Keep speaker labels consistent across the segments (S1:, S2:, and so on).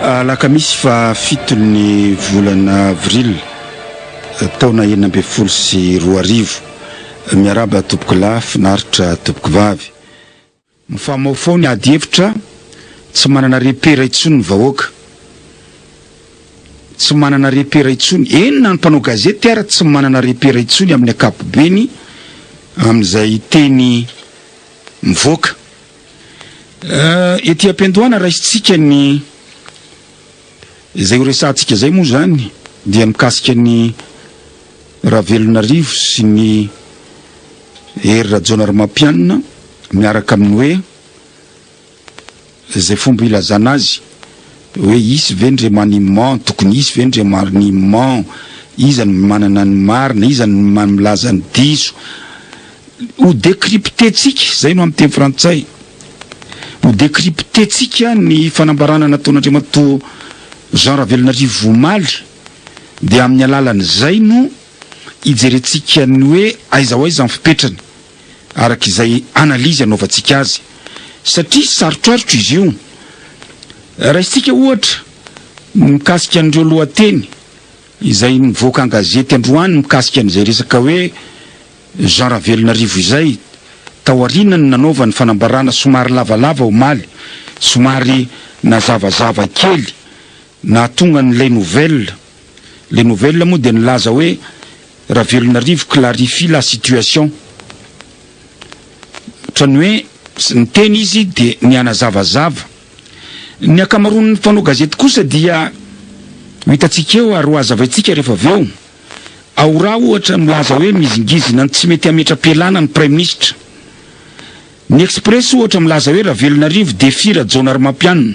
S1: Alakamisy fa fitony volana avril taona enina ambin'ny folo sy roa arivo miaraba tompoko lahy finaritra tompoko vavy Mifamaofao ny ady hevitra, tsy manana repera intsony ny vahoaka. Tsy manana repera intsony, eny na ny mpanao gazety ara tsy manana repera intsony amin'ny ankapobeny amin'izay teny mivoaka. Ety am-piandohana raisintsika ny izay horesahantsika izay moa izany dia mikasika ny Ravelonarivo sy ny Hery Rajaonarimampianina miaraka amin'ny hoe izay fomba ilazana azy hoe hisy ve ny remaniement, tokony hisy ve ny remaniement, iza no manana ny marina, iza no milaza ny diso, ho décrypter-tsika, izay no amin'ny teny frantsay, ho décrypter-tsika ny fanambarana nataon'Andriamatoa Jean Ravelonarivo omaly. dia amin'ny alalan'izay no ijerentsika ny hoe aiza ho aiza ny fipetrany araka izay analizy anaovantsika azy satria sarotrarotra izy io. Raisintsika ohatra ny mikasika an'ireo lohateny izay nivoaka an-gazety androany mikasika an'izay resaka hoe Jean Ravelonarivo izay taoriana ny nanaovany fanambarana somary lavalava omaly, somary nazavazava kely. Nahatonga ny Les Nouvelles. Les Nouvelles moa dia nilaza hoe Ravelonarivo clarifie la situation. Ohatran'ny hoe niteny izy dia nihanazavazava. Ny ankamaroan'ny mpanao gazety kosa dia ho hitantsika eo ary ho hazavaintsika rehefa avy eo. Ao Raha ohatra milaza hoe mizingizina ny tsy mety hametra-pialana ny Praiminisitra. Ny Express ohatra milaza hoe Ravelonarivo défie Rajaonarimampianina.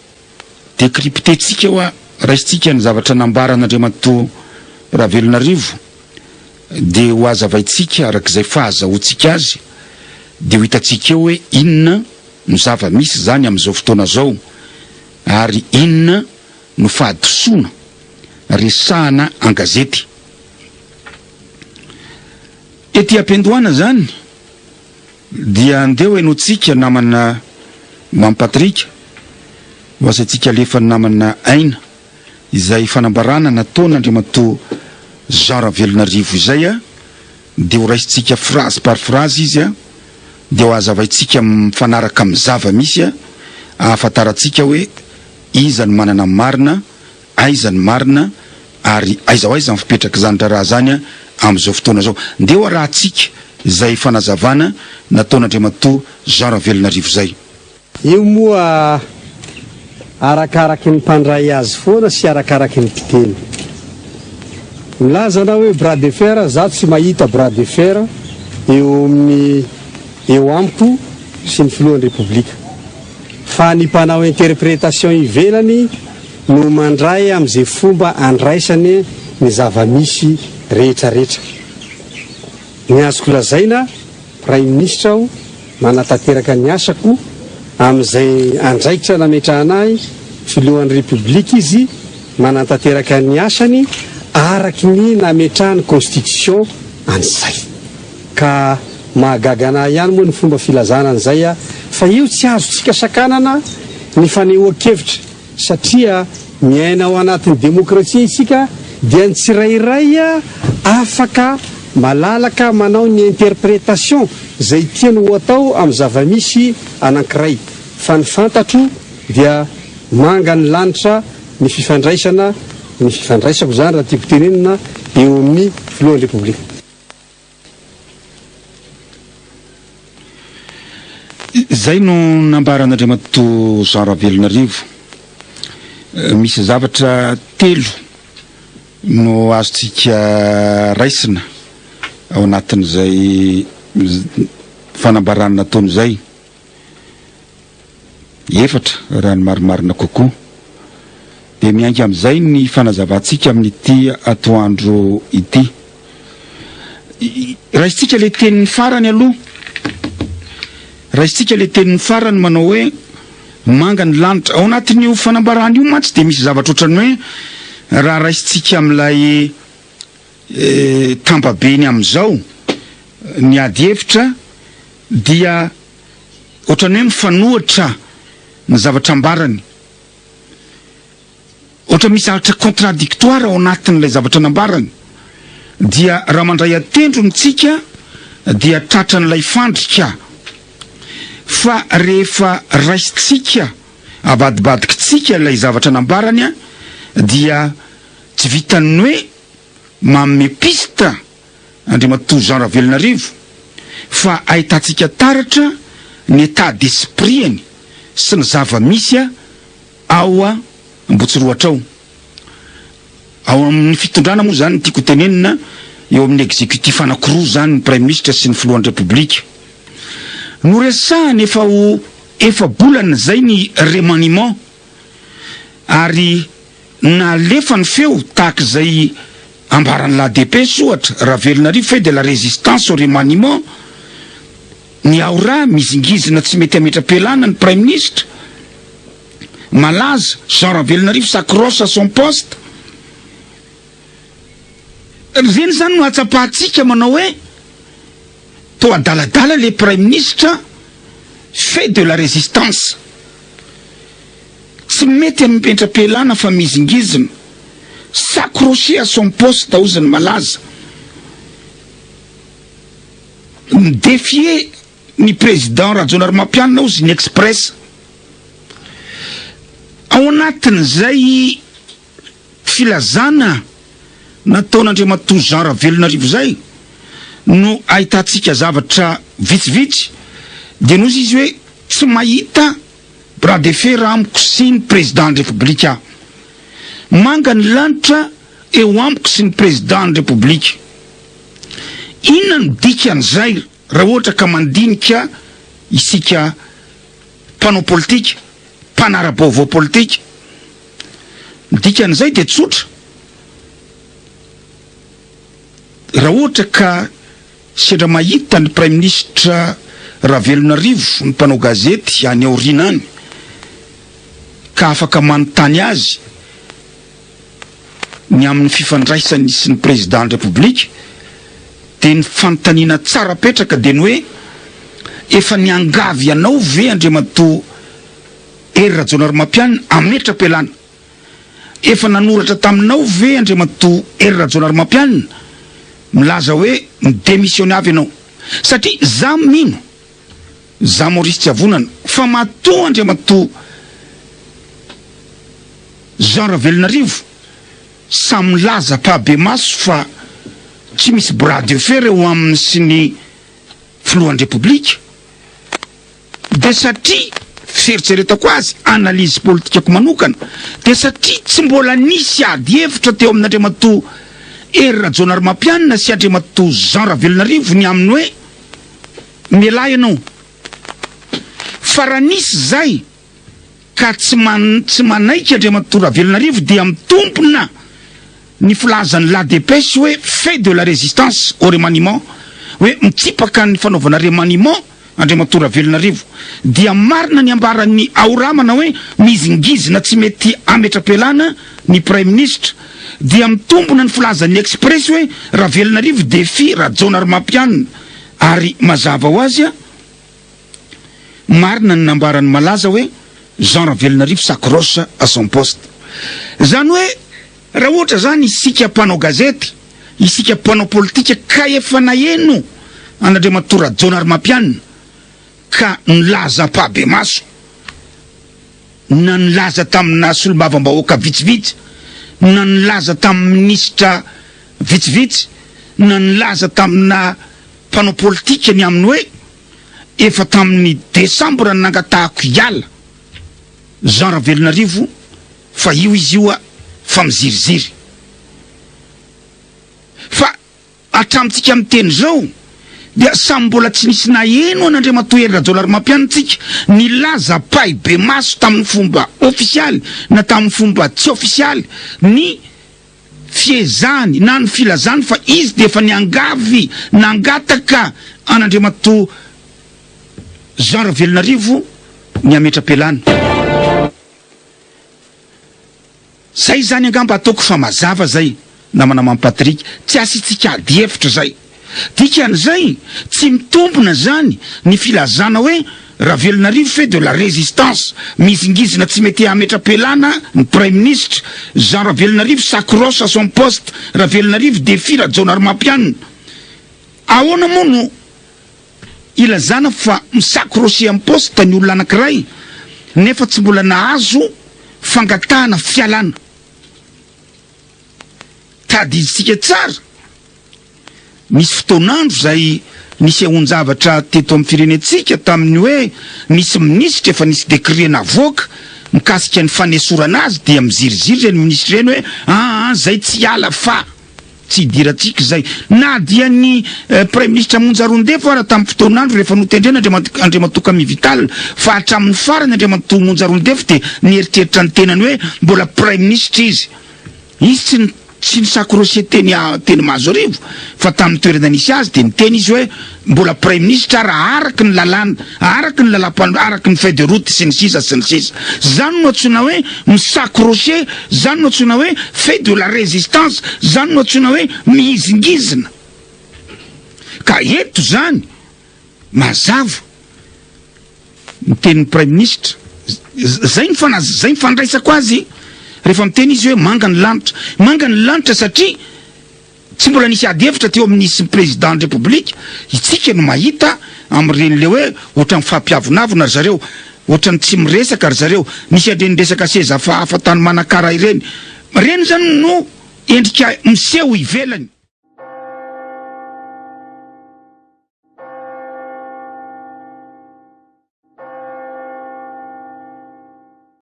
S1: Décrypter-tsika hoa raisintsika ny zavatra nambaran'Andriamatoa Ravelonarivo dia ho hazavaintsika arak'izay fahazahoantsika azy dia ho hitantsika eo hoe inona no zava-misy izany amin'izao fotoana izao ary inona no fahadisoana resahana an-gazety ety am-piandohana izany. Dia andeha hoy no tsika namana Mamy Patrika ho asaintsika alefa ny namana Aina izay fanambarana nataon' Andriamatoa Jean Ravelonarivo izay a! dia ho raisintsika phrase par phrase izy a! dia ho hazavaintsika mifanaraka amin'ny zava-misy a! ahafantarantsika hoe iza no manana ny marina Aiza ny marina ary aiza ho aiza ny fipetrak'izany raharaha izany amin'izao fotoana izao? Ndeha ho arahintsika izay fanazavana nataon'Andriamatoa Jean Ravelonarivo izay. Io moa
S2: arakaraky ny mpandray azy foana sy arakaraky ny mpiteny. Milaza anao hoe bras de fer, izaho tsy mahita bras de fer eo amin'ny eo amiko sy ny filohan'ny Repoblika. Fa ny mpanao interprétation ivelany, no mandray amin'izay fomba andraisany ny zava-misy rehetrarehetra. Ny azoko lazaina, Praiminisitra aho, manatanteraka ny asako amin'izay andraikitra nametrahana ahy Filohan'ny Repoblika izy, manatanteraka ny asany araky ny nametrahan'ny Constitution an'izay. Ka mahagaga an'ahy ihany moa ny fomba filazana an'izay fa io tsy azontsika sakanana ny fanehoan-kevitra. Satria miaina ao anatin'ny demokrasia isika dia ny tsirairay afaka malalaka manao ny interprétation izay tiany ho atao amin'ny zava-misy anankiray fa ny fantatro dia manga ny lanitra ny fifandraisana, ny fifandraisako izany raha tiako tenenina, eo amin'ny Filohan'ny Repoblika.
S1: Izay no nambaran'Andriamatoa Jean Ravelonarivo. Misy zavatra telo no azontsika raisina ao anatin'izay fanambarana nataony izay. Efatra, raha ny marimarina kokoa, dia miainga amin'izay ny fanazavantsika amin'ity atoandro ity. Raisintsika ilay teniny farany aloha, raisintsika ilay teniny farany manao hoe manga ny lanitra. Ao anatin'io fanambarana io mantsy dia misy zavatra ohatran'ny hoe raha raisintsika amin'ilay tambabeny amin'izao ny ady hevitra dia ohatran'ny hoe mifanohitra ny zavatra ambarany. Ohatra misy zavatra contradictoire ao anatin'ilay zavatra nambarany. Dia raha mandray an-tendro ny tsika dia tratran'ilay fandrika. Fa rehefa raisintsika, avadibadikintsika ilay zavatra nambarany dia tsy vitan'ny hoe manome piste Andriamatoa Jean Ravelonarivo fa ahitantsika taratra ny état d'esprit-any sy ny zava-misy ao Ambotsirohatra ao. Ao amin'ny fitondrana moa izany no tiako hotenenina, eo amin'ny executif anankiroa izany, ny Praiminisitra sy ny Filohan'ny Repoblika. Noresahana efa ho efa-bolana izay ny remaniement. ary nalefa ny feo tahaka izay ambaran'ny la dépêche ohatra, Ravelonarivo fait de la résistance au remaniement, ny ao ra mizingizina tsy mety hametra-pialana ny praiminisitra malaza Jean Ravelonarivo s'accroche à son poste. Ireny izany no ahatsapahantsika manao hoe. toa adaladala le praiminisitra fait de la résistance tsy mety aminy petrapelana fa mizingizina s'accrocher à son poste ozy ny malaza mi défier ny président rajaonarimampianina ozy ny express ao anatin'izay Filazana nataon'Andriamatoa Jean Ravelonarivo izay no ahitantsika zavatra vitsivitsy dia noho izy hoe tsy mahita bras de fer amiko sy ny Président ny République aho. Manga ny lanitra eo amiko sy ny Président ny République. Inona no dikan'izay? Raha ohatra ka mandinika isika mpanao politika, mpanara-baovao politika, ny dikan'izay dia tsotra, raha ohatra ka sendra mahita ny Praiminisitra Ravelonarivo ny mpanao gazety any aoriana any ka afaka manontany azy, ny amin'ny fifandraisany sy ny Prezidan'ny Repoblika dia ny fanontaniana tsara petraka dia ny hoe efa niangavy anao ve Andriamatoa Hery Rajaonarimampianina hametra-pialana? Efa nanoratra taminao ve Andriamatoa Hery Rajaonarimampianina milaza hoe mi-demissionner avy ianao? Satria za mino Za Maurice Tiavonana fa matoa Andriamatoa Jean Ravelonarivo sahy milaza pahabemaso fa tsy misy bras de fer eo aminy sy ny Filohan'ny Repoblika dia satria fieritreretako azy, analyse politikako manokana, dia satria tsy mbola nisy ady hevitra teo amin'Andriamatoa Hery Rajaonarimampianina sy Andriamatoa Jean Ravelonarivo ny amin'ny hoe. Mialà ianao. Fa raha nisy izay ka tsy tsy manaiky Andriamatoa Ravelonarivo dia mitompona ny filazan'ny La Dépêche hoe fait de la résistance au remaniement hoe mitsipaka ny fanaovana remaniement Andriamatoa Ravelonarivo. Dia marina ny ambaran'ny Ao Ramana hoe mizingizina tsy mety hametra-pialana ny Praiminisitra. dia mitombona ny filazan'ny Express hoe Ravelonarivo défie Rajaonarimampianina ary mazava ho azy a! marina ny nambaran'ny malaza hoe Jean Ravelonarivo s'accroche à son poste izany hoe raha ohatra izany isika mpanao gazety, isika mpanao politika ka efa naheno an'Andriamatoa Rajaonarimampianina ka nilaza am-pahabemaso. na nilaza tamina solombavambahoaka vitsivitsy, na nilaza tamin'ny minisitra vitsivitsy, na nilaza tamina mpanao politika ny amin'ny hoe efa tamin'ny desambra no nangatahako hiala Jean Ravelonarivo fa io izy io fa miziriziry fa Hatramintsika miteny izao dia samy mbola tsy nisy naheno an'Andriamatoa Hery Rajaonarimampianina tsika nilaza pahibemaso tamin'ny fomba ofisialy na tamin'ny fomba tsy ofisialy ny fiezahany na ny filazany fa izy dia efa niangavy nangataka an'Andriamatoa Jean Ravelonarivo ny hametra-pialana. Zay zany angamba ataoko fa mazava zay namana Mamy Patrick, tsy asiantsika ady hevitra zay. Dikan'izay tsy mitombina zany ny filazana hoe Ravelonarivo fait de la résistance, mizingizina tsy mety hametra-pialana ny Praiminisitra, Jean Ravelonarivo s'accroche à son poste, Ravelonarivo défie Rajaonarimampianina. Ahoana moa no. Ilazana fa misakrosy am-poste ny olona anankiray nefa tsy mbola nahazo fangatahana fialana. Tadidinsika tsara, nisy fotoan'andro izay nisehoan-javatra teto amin'ny firenentsika tamin'ny hoe nisy minisitra efa nisy décret navoaka mikasika ny fanesorana azy dia miziriziry ireny minisitra ireny hoe aa zay tsy hiala fa. Tsy idirantsika izay. Na dia ny Praiminisitra Monja Rondefo ara tamin'ny fotoan'andro rehefa notendrena Andriamatoa Andriamatoa Camille Vital fa hatramin'ny farany Andriamatoa Monja Rondefo dia nieritreritra ny tenany hoe mbola Praiminisitra izy. Izy tsy tsy nisakorose teny teny Mahazoarivo fa tamin'ny toerana nisy azy dia niteny izy hoe Mbola praiminisitra raha araka ny lalàna, araka ny lalam-pan, araka ny feuille de route sy ny sisa sy ny sisa. Zany no antsoina hoe mi-s'accrocher, zany no antsoina hoe fait de la résistance, zany no antsoina hoe mihizingizina. Ka eto zany mazava ny tenin'ny praiminisitra, zay ny fana, zay ny fandraisako azy rehefa miteny izy hoe manga ny lanitra. Manga ny lanitra satria. Tsy mbola nisy ady hevitra teo amin'ny sy ny Prezidan'ny Repoblika, itsika no mahita amin'ireny le hoe ohatran'ny mifampiavonavona ry zareo, ohatran'ny tsy miresaka ry zareo, misy an'ireny resaka seza hafahafa tany Manakara ireny, ireny izany no endrika miseho ivelany.